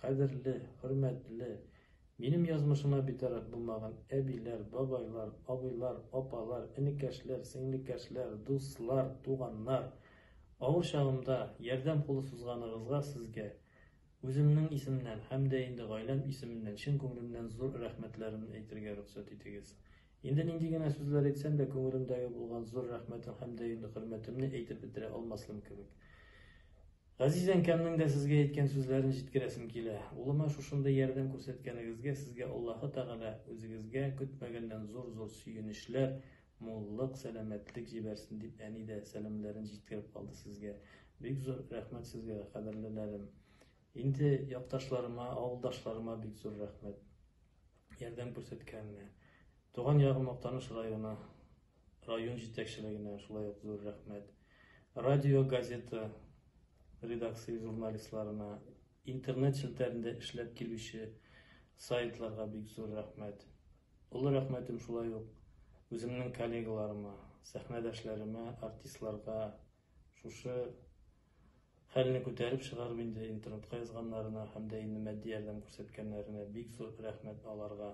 Кадерле, хөрмәтле, минем язмышыма битараф булмаган әбиләр, бабайлар, абыйлар, апалар, энекәшләр, сеңлекәшләр, дуслар, туганнар! Авыр чагымда ярдәм кулы сузганыгызга сезгә үземнең исемнән һәм дә инде гаиләм исеменнән чын күңелемнән зур рәхмәтләремне әйтергә рөхсәт итегез. Инде нинди генә сүзләр әйтсәм дә, күңелемдәге булган зур рәхмәтем һәм дә инде хөрмәтемне әйтеп бетерә алмаслым кебек. Газиз әнкәмнең дә сезгә әйткән сүзләрен җиткерәсем килә. Улыма шушындый ярдәм күрсәткәнегезгә сезгә Аллаһы Тәгалә үзегезгә көтмәгәннән зур-зур сөенечләр, муллык, сәламәтлек җибәрсен, дип әни дә сәламләрен җиткереп калды сезгә. Бик зур рәхмәт сезгә, кадерлеләрем. Инде якташларыма, авылдашларыма бик зур рәхмәт. Ярдәм күрсәткәненә. Туган ягым Актаныш районы. Район җитәкчелегенә шулай ук зур рәхмәт. Радио, газета редакция журналистларына, интернет челтәрендә эшләп килүче сайтларга бик зур рәхмәт. Олы рәхмәтем шулай ук үземнең коллегаларыма, сәхнәдәшләремә, артистларга, шушы хәлне күтәреп чыгарып инде интернетка язганнарына һәм дә инде матди ярдәм күрсәткәннәренә бик зур рәхмәт аларга.